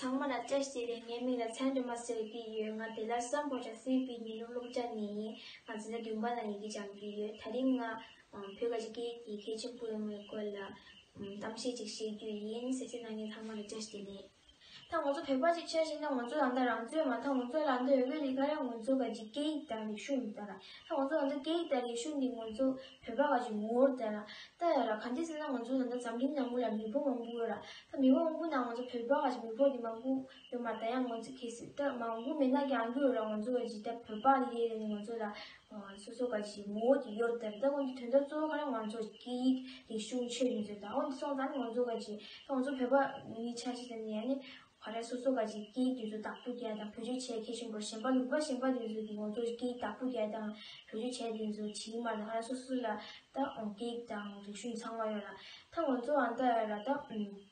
ཚང་མ་ལ་བཀྲ་ཤིས་བདེ་ལེགས་མིག་ལ་མཚན་དུ་མ་གསོལ་གྱི་ཡོད་ང་དེ་ལ་བསམ་བོ་ཆ་སེམས་པའི་ཉི་ནུབ་རླུང་ལྕགས་ནས་ཡིན་ང་ཚོ་ལ་རྒྱུན་པ་ལ་ཡི་གེ་སྦྱང་རྒྱུ་ཡོད་ད་རིང་ང་བོད་ཀ་ཅི་གེ་ཀྱི་མཁས་ཆེན་པོ་ཡོང་བའི་སྐོར་ལ་གཏམ་བཤད་ཅིག་བཤད་རྒྱུ་ཡིན་ཟེར་སའི་ནང་ཉན་ཚང་མ་ལ་བཀྲ་ཤིས་བདེ་ལེགས། ད་ང་ཚོ་བོད་པ་ཞིག་ཆགས་ཤེས་ན་ང་ཚོ་ད་ལྟ་རང་ཚོད་མ་མཐའ་ང་ཚོ་ལ་འདོད་ཡོད་པའི་རིགས་ཁ་རང་ང་ཚོ་ག་ཅིག་སྐད་ཡིག་དང་རིག་གཞུང་ཡིན་ད་ལ་ད་ང་ཚོ་ད་ལྟ་སྐད་ཡིག་དང་རིག་གཞུང་འདི་ང་ཚོ་བོད་པ་ག་ཅིག་ངོ་བོར་ད་ལ་ལྟ་ཡོད་ལ་ག་འདི་ཟེར་ན་ང་ཚོ་ད་ལྟ་འཛམ་གླིང་ནང་པོ་ལ་མི་བོ་མང་པོ་ཡོད་ལ་ད་མི་བོ་མང་པོ་ནང་ང་ཚོ་བོད་པ་ག་ཅིག་མི་བོ་འདི་མང་པོ་ཡོད་མ་ད་ཡང་ང་ཚོ་གལ་སྲིད་ད་མང་པོ་མེད་ན་ཀྱང་འགྲོ་ཡོད་ལ་ང་ཚོ་ག་ཅིག་ད་བོད་པ་འདི་རེད་ཟེར་ནས་ང་ཚོ་ལ་སོ་སོ་ཀ་ཞིག་ངོ་བོ་དེ་ཡོད་དེ་ལྟ་བུའི་དོན་དག་གཙོ་བོ་ག་རེ་ང་ཚོར་སྐད་ཡིག་རིག་གཞུང་ཆོས་ཡིན་ཟེར་དང་འོན་ཏེ་སོང་ཙང་ང་ཚོ་ཀ་ཅིག་ང་ཚོ་བོད་པ་ནི་ཆ་ཤས་ཙམ་ཡིན་ནི་ག་རེ་སོ་སོ་ཀ་ཅིག་སྐད་ཡིག་དེ་ཚོ་དག་ཐུག་རྒྱལ་དང་བོད་ཆོས་བྱེད་མཁས་ཤིང་གོ་ཞེན་པ་ལུག་པ་ཞེན་པ་དེ་ཚོ་གིས་ང་ཚོར་སྐད་ཡིག་དག་ཐུག་རྒྱལ་དང་བོད་ཆོས་བྱེད་དེ་ཚོ་བྱིས་མ་ལ་ང་ར་སོ་སོ་ལ་ད་སྐད་ཡིག་དང་རིག་གཞུང་ཚང་མ་ཡོད་ལ་ད་ང་ཚོའང་ད་ར་ད་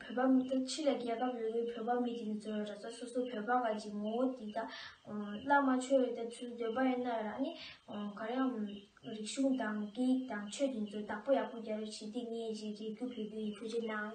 བོད་པ་མི་ཐུབ་ཕྱི་ལ་རྒྱལ་ཁབ་རེ་རེའི་བོད་པ་མི་དེ་ཚོས་ར་ས་སོ་སོའི་བོད་པ་འགའ་ཅིག་ངོ་བོ་དེ་དག་བླ་མ་མཆོད་རེ་ལྟ་ཚུལ་འདོད་པ་ཡིན་ན་རང་ཉིད་གར་ཡང་རིག་གཞུང་དང་སྐད་ཡིག་དང་ཆོས་དེ་ཚོ་བདག་པོ་ཡག་པོ་རྒྱ་རུ་བྱེད་དེ་ངས་རེ་རེ་རྒྱུ་བོད་པའི་ཡུལ་གྲུ་ཆེ་ནའང།